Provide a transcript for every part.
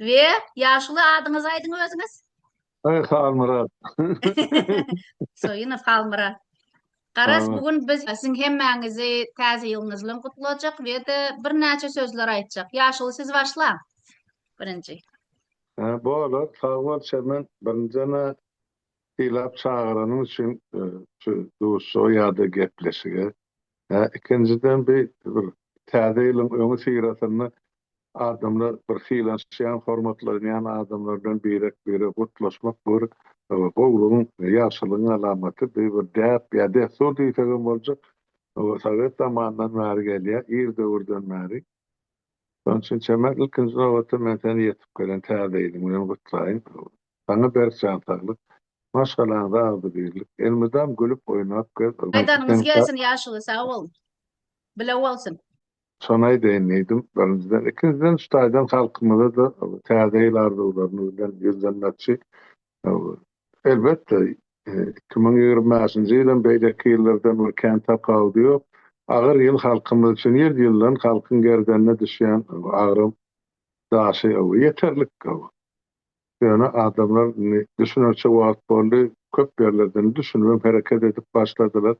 Ve yaşuly adyňyzy aýdyň özüňiz. Ay Halmyrat. Soyunov Halmyrat. Garaz Halmyrat. bugün biz siziň hemmäňizi täze ýylyňyz bilen gutlajak we de birnäçe sözler aýtjak. Ýaşuly siz başlaň. Birinji. Ha, bolar. Sag bol Çemen. Birinjene silap çagyranyň üçin e, şu duşuşyga ýa-da gepleşige. Hä, ikinjiden bi bir Täze ýylyň öňüsyrasynda adamlar bir sylanşýan, hormatlanýan adamlar bilen birek-birege gutlaşmak bir gowulygyň, ýagşylygyň alamaty, bi bir däp ýa dessur diýsegem boljak, sowet zamanyndan bäri gelýär, ir döwürden bäri. Şonuň üçin Çemer, ilkinji nobatda men seni ýetip gelen täze ýylyň bilen gutlaýyn. Saňa berk jan saglyk, maşgalaňyza agzybirlik, elmydam gülüp oýnap gez, Aýdanyňyz gelsin ýaşuly sag bol. Bile bolsun. Şony aýdaýyn diýdim birinjiden. Ikinjiden şu taýdan halkymyza-da täze ýyl arzuwlaryny bizden ýüzlenmekçi Elbetde, iki müň ýigrimi bäşinji ýylam, beýleki ýyllardan bir kän tapawudy ýok. Agyr ýyl halkymyz üçin, ýyl-ýyldan halkyň gerdenine düşýän agyry daşy ýeterlik. Ýöne adamlar indi düşünerçe wagt boldy, köp ýerlerde indi düşünip hem hereket edip başladylar.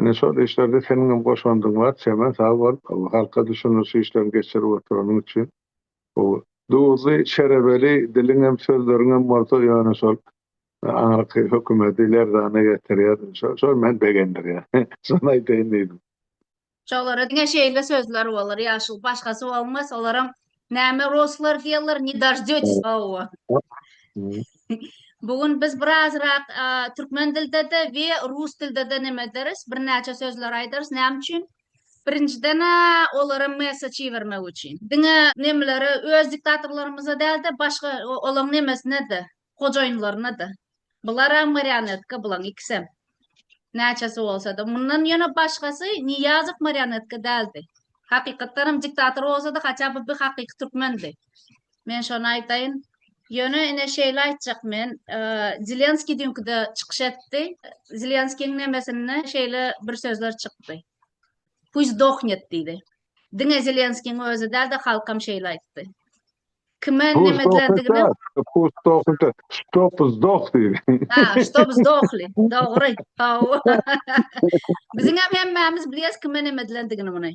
Ine, şol işlerde seniňem goşandyň bar, Çemen, sag bol, halka düşündiriş işlerini geçirip oturanyň üçin. Bu duzly şerebeli diliňem sözleriňem bolsa ýöne şol aňyrky hökümedi lerzana getirýär. Şo şo meni begendirýär. Şony aýdaýyn diýdim. Şolara diňe şeýle sözler bolar ýaşul başgasy bolmaz olaram näme ruslar diýerler ne dojdetis owo. Bu gün biz birazrak türkmen dildede we rus dildede neme ederis birnäçe sözler aýdarys näme üçin Birinjiden-ä olara messeç ibermek üçin. Diňe nemelere, öz diktatorlarymyza däl-de, başga olaň nemesine-de, hojaýynlaryna-da. Bularam marionetka, bulaň ikisem. Näçesi bolsa-da. Mundan ýöne başgasy Nyýazow marionetka däldi. Hakykatdanam diktator bolsa-da, haçan-da bir hakyky türkmendi. Men şony aýdaýyn. Ýöne ine şeýle aýtjak men, e, Zelenskiý dünküde çykyş etdi. Zelenskiýiň nemesinde şeýle bir sözler çykdy. Puý dohnet diýdi. Diňe Zelenskiýiň özi dälde halkam şeýle aýtdy. Kime nemetlerdigini Puý dohnet, stop zdoh diýdi. Ha, stop zdohli. Dogry. Hawa. Biziň hem hemmämiz bilýäs kime nemetlerdigini muny.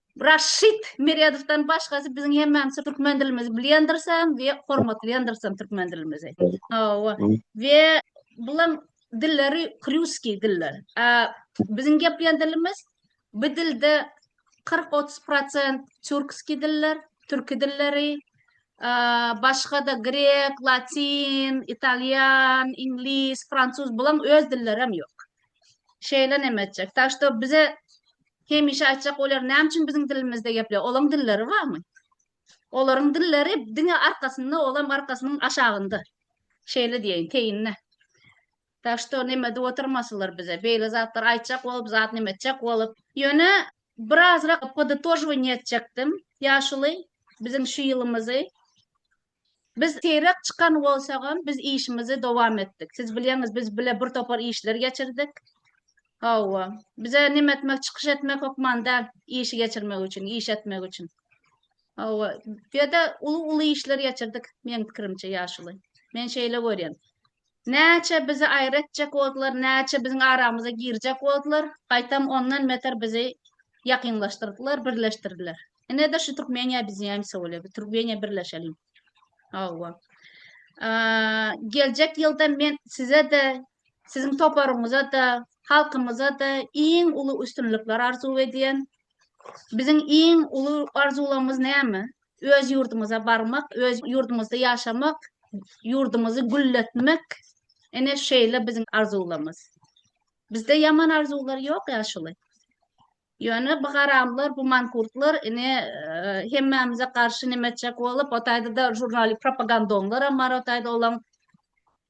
Raşid Meredowdan başgasy biziň hemmämiz türkmen dilimizi bilýändirsem we hormatlaýandyrsam türkmen dilimizi. Hawa. We bulan dilleri krýuskiý diller. A biziň gepleýän dilimiz bu dilde 40-30% türkski diller, türki dilleri, başga da grek, latin, italýan, iňlis, fransuz bulan öz dilleri hem ýok. Şeýle näme etjek? Tak bize Hemişe aýtjak olar näme üçin biziň dilimizde gepleýär? Olaň dilleri barmy? Olaryň dilleri diňe arkasynda, olam arkasynyň aşagynda. Şeýle diýeýin, teýinde. Tak şto neme edip oturmasylar bize. Beýle zatlar aýtjak bolup, zat neme etjek bolup. Ýöne birazrak poditožwaniýe etjekdim. Ýaşuly biziň şu ýylymyzy Biz seýrek çykan bolsagam, biz işimizi dowam etdik. Siz bilýäňiz, biz bile bir topar işleri geçirdik. Hawa, bize näme etmek, çykyş etmek hökman däl, işi geçirmek üçin, iş etmek üçin. Hawa, ýa-da uly-uly işler geçirdik, meň pikirimçe, ýaşuly. Men şeýle görýän. Näçe bizi aýry etjek boldular, näçe biziň aramyza girjek boldular, gaýtam ondan beter bizi ýakynlaşdyrdylar, birleşdirdiler. Ine-de şu Türkmeniýa biziň hemse bolýar. Biz Türkmeniýa birleşeliň. Hawa. Geljek ýylda men size-de, siziň toparyňyza-da, halkymyza-da iň uly üstünlikler arzuw edýän. Biziň iň uly arzuwlarymyz näme? Öz ýurdumyza barmak, öz ýurdumyzda ýaşamak, ýurdumyzy gülletmek ene şeýle biziň arzuwlarymyz. Bizde ýaman arzuwlar ýok ýaşuly. Ýöne bu garamlar, bu mankurtlar ine hemmämize garşy neme etjek bolup, o taýda-da žurnali propagandonlar hem bar, o taýda olaň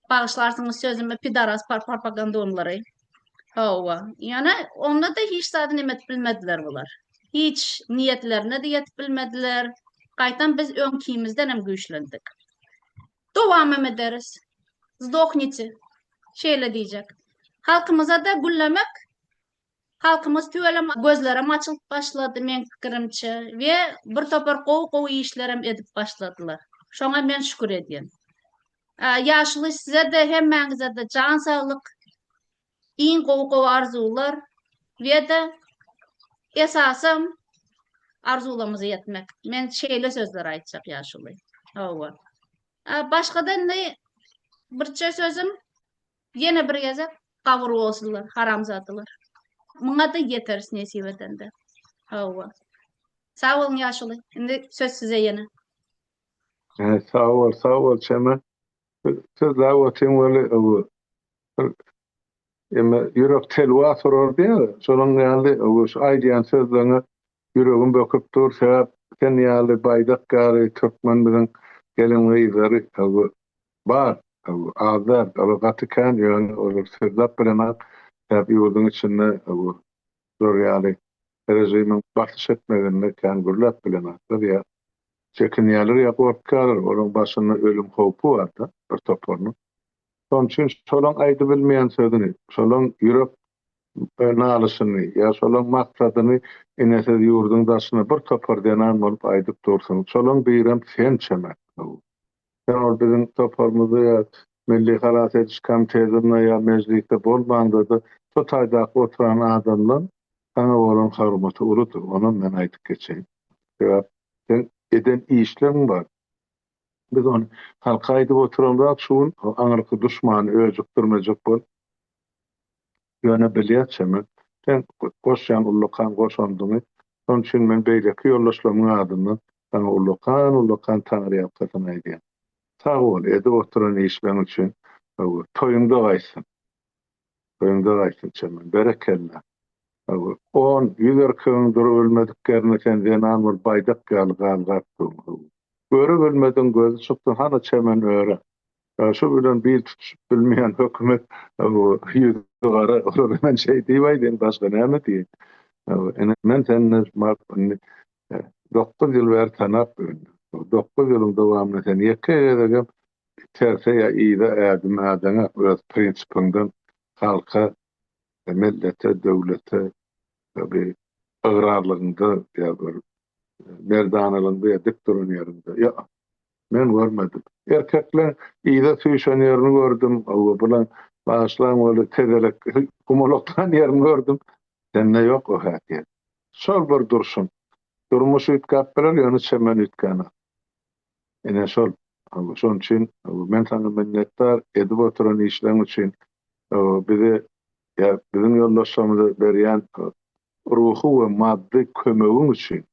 bagyşlarsyňyz sözümi pidaras propagandonlary. Hawa. Ýöne onda-da hiç zady näme edip bilmediler bular. Hiç niýetlerine-de ýetip bilmediler. Gaýtam biz öňkimizden hem güýçlendik. Dowam hem ederis. Zdoknite. Şeýle diýjek. Halkymyza-da güllemek Halkymyz tüwelem gözlerem açylyp başlady meň pikirimçe we bir topar gowy-gowy işlerem edip başladylar. Şoňa men şükür edýän. Ýaşuly sizede hemmäňizede jan saglyk, iň gowy gowy arzuwlar we-de esasam arzuwlarymyza ýetmek. Men şeýle sözler aýtjak ýaşuly. Hawa. Başgada indi birçe sözüm ýene bir gezek gabyr bolsunlar haramzadalar. Muňa-da ýeteris nesip edende. Hawa. Sag boluň ýaşuly. Indi söz size ýene. He sag bol sag bol Çemen. Sözläp otyň weli owo. Emme ýürek telwa surar diýýär. Şonuň ýaly owo şu aýdýan sözleriňe ýüregim böküp dur sebäp sen ýaly baýdak ýaly türkmen biziň gelin gyzlary owo bar owo az däl olar gaty kän ýöne olar sözläp bilenok sebäp ýurduň içinde owo Şular ýaly režimiň basyş etmeginde kän gürläp bilenoklar ýa çekinýärler ýa gorkýarlar, olaryň başynda ölüm howpy bar-da bir toparynyň. Şonuň üçin şolaň aýdybilmeýän sözüni, şolaň ýürek nalyşyny ýa şolaň maksadyny ine siz ýurduň daşyna bir topar zenan bolup aýdyp dursuň, şolaň birem sen çemen. Haw. Sen ol biziň toparymyzda ýa Milli halas ediş komitetinde ýa Mejlisde bolmaňda-da şo taýdaky oturan adamlaň saňa bolan hormaty uludyr, onam men aýdyp geçeýin. Sebäp seň eden işleň bar. Biz ony halka aýdyp oturamzok şu gün, o aňyrky duşmany öjükdirmejek bolup. Ýöne bilýär çeme, sen goşýan ullakan goşandyňy, şonuň üçin men beýleki ýoldaşlarymyň adyndan saňa ullakan-ullakan taňryýalkasyn aýdýan. Sag bol, edip oturan işleň üçin hawa, toýuňda gaýtsyn. Toýuňda gaýtsyn çeme, berekella. Hawa, on, ýüz erkegiň durubilmedik ýerine sen zenan bolup baýdak ýaly galgap dur. Hawa. Öre bilmedigiň gözi çykdy, hany çemen öre. Şo bilen bil tutuşyp bilmeýän hökümet ýüzi gara olara men şeý diýip aýdaýyn başga näme diýeýin. Ine men seni indi dokuz ýyl bäri tanap bilin. Dokuz ýylyň dowamynda sen ýeke gezegem terse ýa yza ädim ädeňok öz prinsipiňden halka, mellete, döwlete bir ygrarlygyňda ýa bir merdanalygyňda ýa dik duran ýeriňde ýok. Men görmedim. Erkekleň yza süýşen ýerini gördüm. Hawa, bulaň bagyşlaň weli tegelek gumalaklan ýerini gördüm. Sende ýok o häsiýet. Şol bir durşuň. Durmuş üýtgäp biler, ýöne çemen üýtgänok. Ine şol. Hawa, şonuň üçin men saňa minnetdar, edip oturan işleň üçin. Hawa, bize, ýa biziň ýoldaşlarymyza berýän ruhy we maddy kömegiň üçin,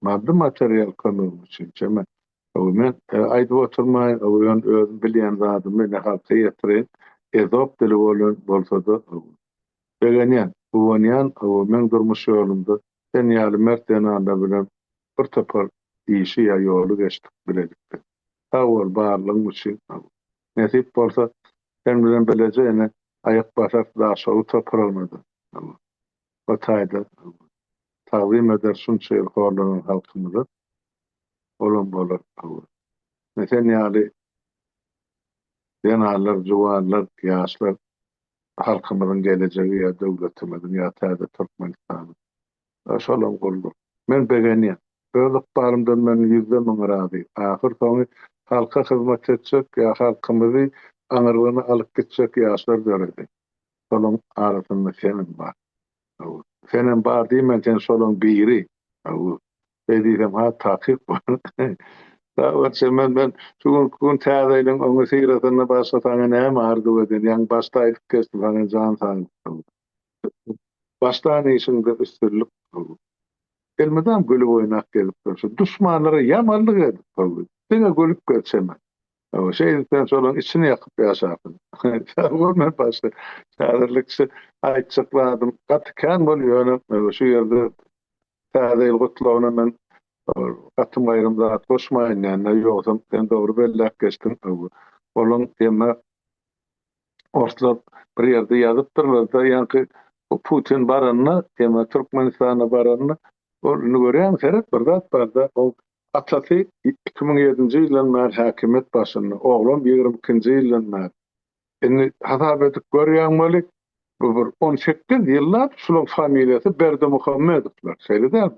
maddy-material kömegiň üçin, çemen, hawa, men aýdyp oturmaýyn, hawa, ýöne özüm bilýän zadymy ine halka ýetireýin, ezop dili bolan bolsa-da, hawa, begenýän, guwanýan, hawa, meň durmuş ýolumda sen ýaly mert zenanlar bilen bir topar işi ýa ýoly geçdik bilelikde. Sag bol, barlygyň üçin, hawa. Nesip bolsa, sen bilen bileje ene aýak basarys Daşoguz topragyna-da, o taýda tagzym ederis şunça ýyl horlanan halkymyza. Olam bolar. Ine, sen ýaly zenanlar, juwanlar, ýaşlar halkymyzyň gelejegi ýa döwletimiziň ýa täze Türkmenistanyň. Salam Gulluk. Men begenýän. Öz ykbalymdan men ýüzde müň razy. Ahyr soňy halka hyzmat etjek ýa halkymyzy aňyrlygyna alyp gitjek ýaşlar döredi. Şolaň arasynda senem bar. Hawa. Senem bar diýmen sen şolaň biri. Hawa. Şeý diýsem has takyk bolar. Sag bol Çemen men şu günki gün täzeýleň öňe syrasynda başga saňa näme arzuw edýän ýaňy başda aýdyp geçdim saňa jan saglyk. Başlan işiňde üstünlik Ogul. Elmydam gülüp oýnap gelipdir şu duşmanlara ýamanlyk edip Ogul. Diňe gülüp gel çeme. Ogul şeýdip sen şolaň içini ýakyp ýaşapsyň. Sag bol men başga häzirlikçe aýtjak zadym gaty kän bol ýöne Ogul şu ýerde Täze ýyl gutlagyna men Ogul gatym aýrym zat goşmaýyn dände ýogsam sen dogry belläp geçdiň Ogul. Olaň ýeme. Orslar bir ýerde ýazypdyrlar-da, ýaňky bu Putin baranda, ýa-da Türkmenistana baranda, ol indi görýäňmi, seret, bir zat bar-da, ol atasy iki müň ýedinji ýyldan bäri häkimiýet başynda, oglam ýigrimi ikinji ýyldan bäri. Indi hasap edip görýäň weli, bu bir on sekiz ýyllap şularyň familiýasy Berdimuhamedowlar, şeýle dälmi?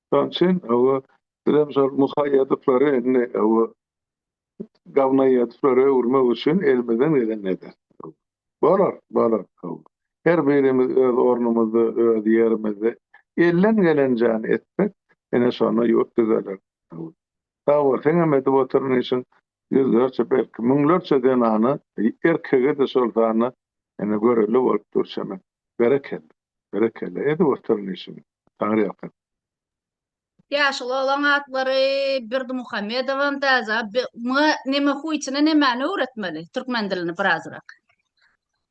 Şonuň üçin bu bizem şol muhaýýadyklary indi bu gawnaýýadyklary öwürmek üçin elimizden geleni ederis. Bolar, bolar. Her birimiz öz ornumyzda, öz ýerimizde elden gelenjäni etsek, ine şonda ýurt düzeler. Sag bol, seňem edip oturan işiň ýüzlerçe, belki, müňlerçe zenana, erkege-de şol sanda ene görelde bolup dur çemen. Berekella. Berekella. Edip oturan işiňe. Taňryýalkasyn. Ýaşuly oglan atlary Berdimuhamedowan täze, muňa neme huýsyna nemäni öwretmeli, türkmen dilini birazrak.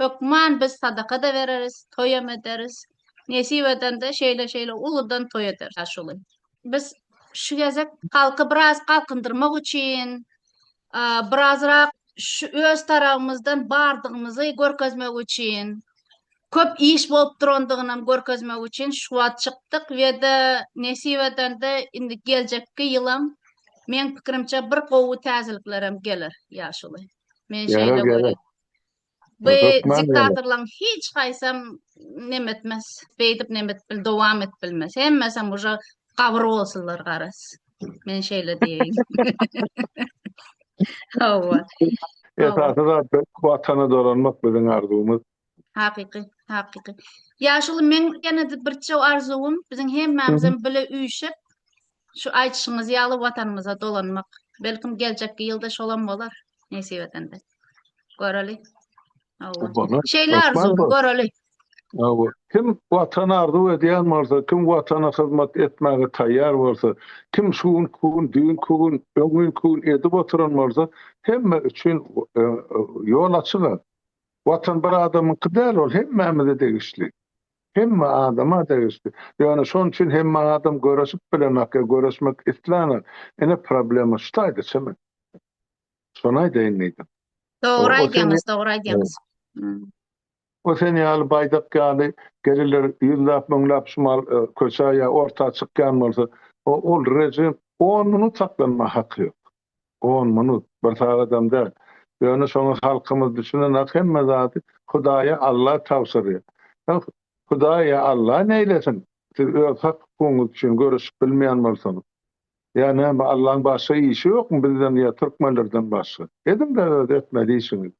Hökman biz sadaka-da bereris, toýam ederis. Nesip edende şeýle-şeýle uludan toý ederis aşuly. Biz şu gezek halky biraz galkyndyrmak üçin, birazrak şu öz tarabymyzdan bardygymyzy görkezmek üçin, köp iş bolup durandygynam görkezmek üçin şu wagt çykdyk we-de nesip edende indi geljekki ýylam meň pikirimçe bir gowy täzeliklerem geler ýaşuly. Men şeýle görýän. Bu diktatorlaryň hiç haýsam nemetmez. Beýdip nemet bil dowam et bilmez. Hemmesem uje gabyr bolsunlar garas. Men şeýle diýeýin. Hawa. Esasy zat watana dolanmak biziň arzuwymyz. Hakyky, hakyky. Ýaşuly men ýene-de birçe arzuwym biziň hemmämizem bile üýşüp Şu aýdyşyňyz ýaly watanymyza dolanmak. Belkim geljekki ýylda şolam bolar, nesip edende. Göreli. Hawa. Şeýle arzuw, göreli. Hawa. Kim watan arzuw edýän bolsa, kim watana hyzmat etmäge taýýar bolsa, kim şu gün, bu gün, düýnki gün, öňňinki gün edip oturan bolsa, hemme üçin ýol açyga. Watan bir adamyňky däl, ol hemmämize degişli. Hemme adama degişli. Ýöne şonuň üçin hemme adam göreşip bilenok ýa göreşmek islanok. Ine problema şu taýda çymy. Şony aýdaýyn diýdim. Dogry aýdýaňyz, dogry aýdýaňyz. O sen ýaly baýdak ýaly geliler ýüzläp müňläp şumal köçä ýa orta çykýan bolsa ol rejim on minut saklanmaga haky ýok. On minut, bir sagadam däl. Ýöne şoňa halkymyz düşünenak hemme zady Hudaýa Alla tabşyrýar. Hä, Hudaý ýa Alla neýlesin? Siz öz hak-hukugyňyz üçin göreşip bilmeýän bolsaňyz. Ýa näme Allaň başga işi ýokmy bizden ýa türkmenlerden başga? Ediň-dä öz etmeli işiňizi.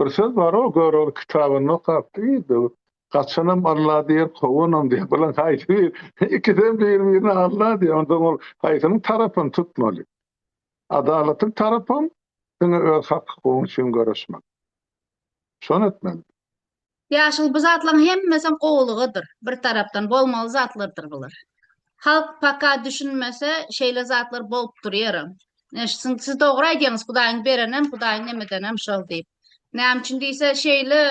Bir söz bar-ow, Görogly kitabynda okapdy, diýdi, Gaçanam Alla diýer, kowanam diýer. Bular haýsy biri? Ikisem bir-birine Alla diýer. Onda ol haýsynyň tarapyny tutmaly? Adalatly tarapam diňe öz hak-hukugyň üçin göreşmek. Şony etmeli. Ýaşyl bu zatlaň hemmesem gowulygydyr. Bir tarapdan bolmaly zatlardyr bular. Halk paka düşünmese şeýle zatlar bolup durýara. Eşitsin siz dogry aýdýaňyz Hudaýyň berenem Hudaýyň nemedenem şol diýip. Näme üçin diýse şeýle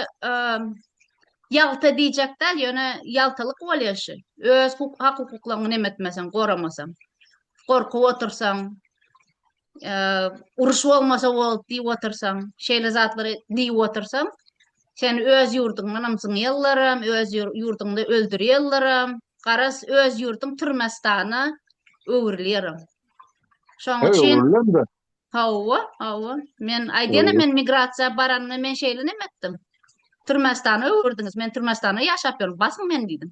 ýalta diýjek däl ýöne ýaltalyk bolýa şu. Öz hak hukuklaňy nemetmeseň goramasaň. Gorkup otursaň. uruş bolmasa bol diýip otursaň, şeýle zatlary diýip otursaň, sen öz ýurduňdan ýallaram, öz ýurduňda öldürýärleram. Garas öz ýurduň türmestana öwrülýäram. Şoň üçin Hawa, hawa. Men aýdýan men migrasiýa baranda men şeýle näme etdim? Türmestana öwürdiňiz. Men türmestana ýaşap ýörüm. Basyň men diýdim.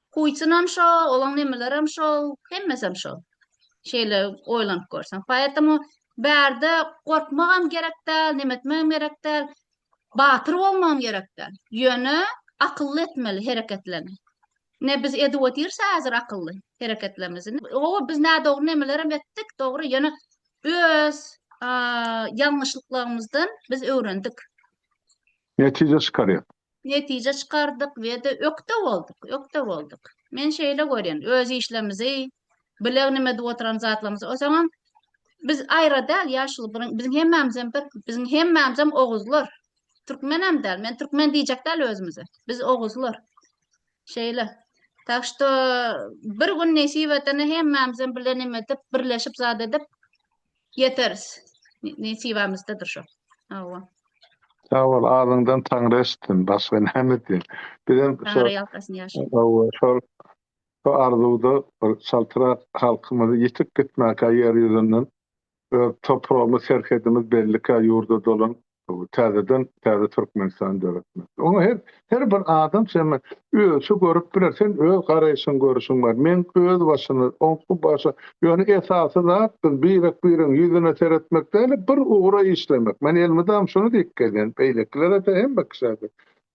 Putinam şol, olaň nemelerem şol, hemmesem şol. Şeýle oýlanyp görseň. Poetemu bärde gorkmagam gerek däl, neme etmegem gerek däl. Batyr bolmagam gerek däl. Ýöne akylly etmeli hereketlerini. Ne biz edip otyrs häzir akylly hereketlerimizi. Oba biz nädogry nemelerem etdik, dogry, ýöne öz ýalňyşlyklarymyzdan biz öwrendik. Netije çykarýar. netije çykardyk we-de ökde bolduk, ökde bolduk. Men şeýle görýän, öz işlerimizi, bilegne edip oturan zatlarymyzy, o zaman biz aýra däl, ýaşuly, biziň hemmämiz hem bir, biziň hemmämiz hem oguzlar. Türkmen hem däl, men türkmen diýjek däl özümize. Biz oguzlar. Şeýle. Tak şu bir gün nesip etene hemmämiz hem bilegne edip, birleşip zat edip, Ýeteris. Nesibamyzdadyr şo. Hawa. Sag bol, azyňdan Taňry eşitsin, başga näme diýen. Bizem şo Hawa, şol şo arzuwda bir çaltrak halkymyzy ýitip gitmäkä ýer ýüzünden öz topragymyz, serhedimiz bellikä ýurda dolan Täzeden täze Türkmenistany döretmek. Oňa her her bir adam şeme özçe görüp biler. Sen öz garaýşyň görüşiň bar. Men özbaşyna oňky başa ýöne esasy zat biz birek biregiň ýüzüne seretmek däl-de bir ugra işlemek. Men elmydam şuny diýip gelýän beýlekilere-de hemme kişä-de.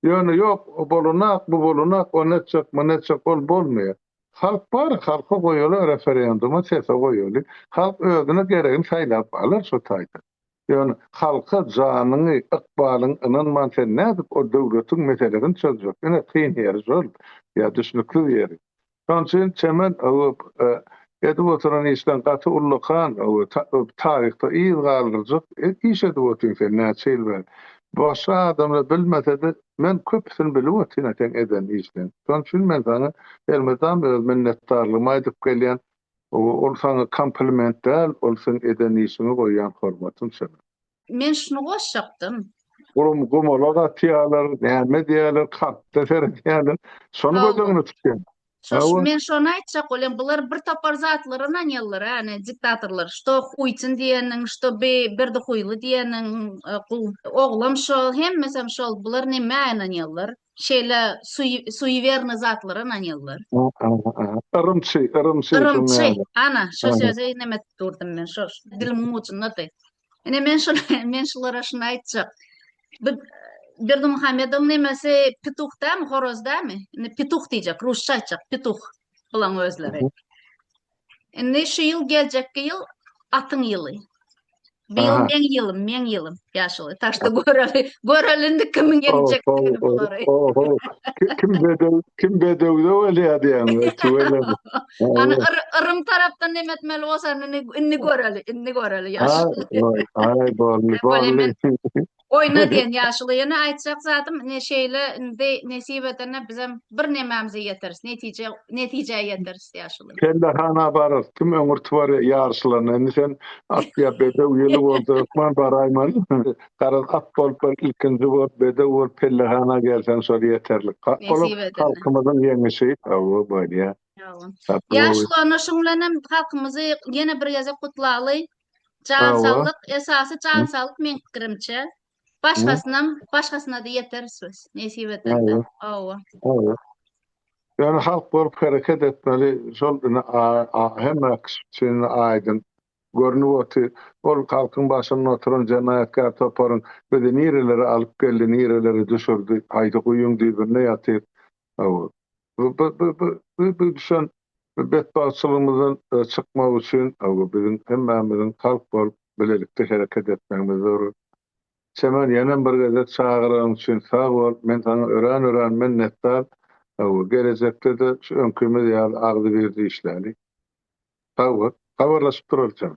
Ýöne ýok o bolunak bu bolunak ony etjek muny etjek ol bolmaýar. Halk bar halka goýaly referenduma sese goýaly. Halk özüne geregini saýlap alar şo taýdan. Ýöne halka janyňy, ykbalyňy ynanman sen nädip o döwletiň meselesini çözjek? Ine kyn ýeri şol. Ýa düşnüksiz ýeri. Şonuň üçin çemen öwüp edip oturan işleň gaty ullakan taryhda yz galdyrjak iş edip otyň sen näçe ýyl bäri. Başga adamlar bilmesede men köpüsini bilip otyryn seň eden işleň. Şonuň üçin men saňa elmydam öz minnetdarlygymy aýdyp gelýän. Owo ol saňa kompliment däl ol seň eden işiňe goýýan hormatyň çala. Men şuny goşjakdym. Olam gomalak atýalar näme edýäler kartda seredýäler şony göz öňüne tutýan. Şo şo men şony aýtjak bolýan bular bir topar zatlar ynanýalar a ne diktatorlar şto huýtyn diýeniň şto bi berdi huýly diýeniň oglam şo hemmesem şol bular neme ynanýalar. şeýle suýewerny zatlara ynanýarlar. Yrymçy, yrymçy. Yrymçy, ana, şo sözi inem edip durdum men, şo dilimiň ujundady. Ine, men şol, men şulara şuny aýtjak. Bu Berdimuhamedowyň nemesi petuh dämi, horaz dämi? Indi petuh diýjek, rusça aýtjak, petuh bulaň özleri. Indi şu ýyl geljekki ýyl atyň ýyly. Bu ýyl meň ýylym, meň ýylym ýaşuly. Taşda göreli, göreli indi kimiň geljek ýyly bolary. Kim bedew, kim bedewde bolýar diýen we tüwelem. Ana Irym tarapdan näme etmeli bolsa indi göreli, indi göreli ýaşuly. Ay, ay, ay, bolly, bolly. Oýna diýen ýaşuly. Ýöne aýtjak zadym, ine şeýle indi nesip edende bizem bir nemämize ýeteris, netije netijä ýeteris ýaşuly. Pellehana bararys. Kim öňürti barýa ýaryşlaryna. Indi sen at ýa bedew ýyly bolsa hökman baraýman. Garaz at bolup bir ilkinji bolup bedew bolup pellehana gelseň şol ýeterlik. Hat bolup Nesip edende. halkymyzyň ýeňişi. Hawa bolýa. Ýaşuly onda şuň bilenem halkymyzy ýene bir gezek gutlaly. Jan saglyk, esasy jan saglyk meň pikirimçe. Başgasynam, başgasyna-da ýeteris biz, nesip etende. Hawa. Hawa. Ýöne halk bolup hereket etmeli, şol indi hemme kişi üçin aýdyň. Görnüp otyr, ol halkyň başynda oturan jenaýatkär toparyň bizi nirelere alyp geldi, nirelere düşürdi, haýsy guýyň düýbünde ýatyr. Hawa. Bu, bu, bu, bu, bu, bu düşen Bu betbagtçylygymyzdan çykmak üçin biziň hemmämiziň halk bolup bilelikde hereket etmegimiz zerur. Çemen ýenem bir gezek çagyragyň üçin sag bol, men saňa örän-örän minnetdar, gelejekde-de şu öňkimiz ýaly agzybirje işläli. Sag bol, habarlaşyp duralyçamy?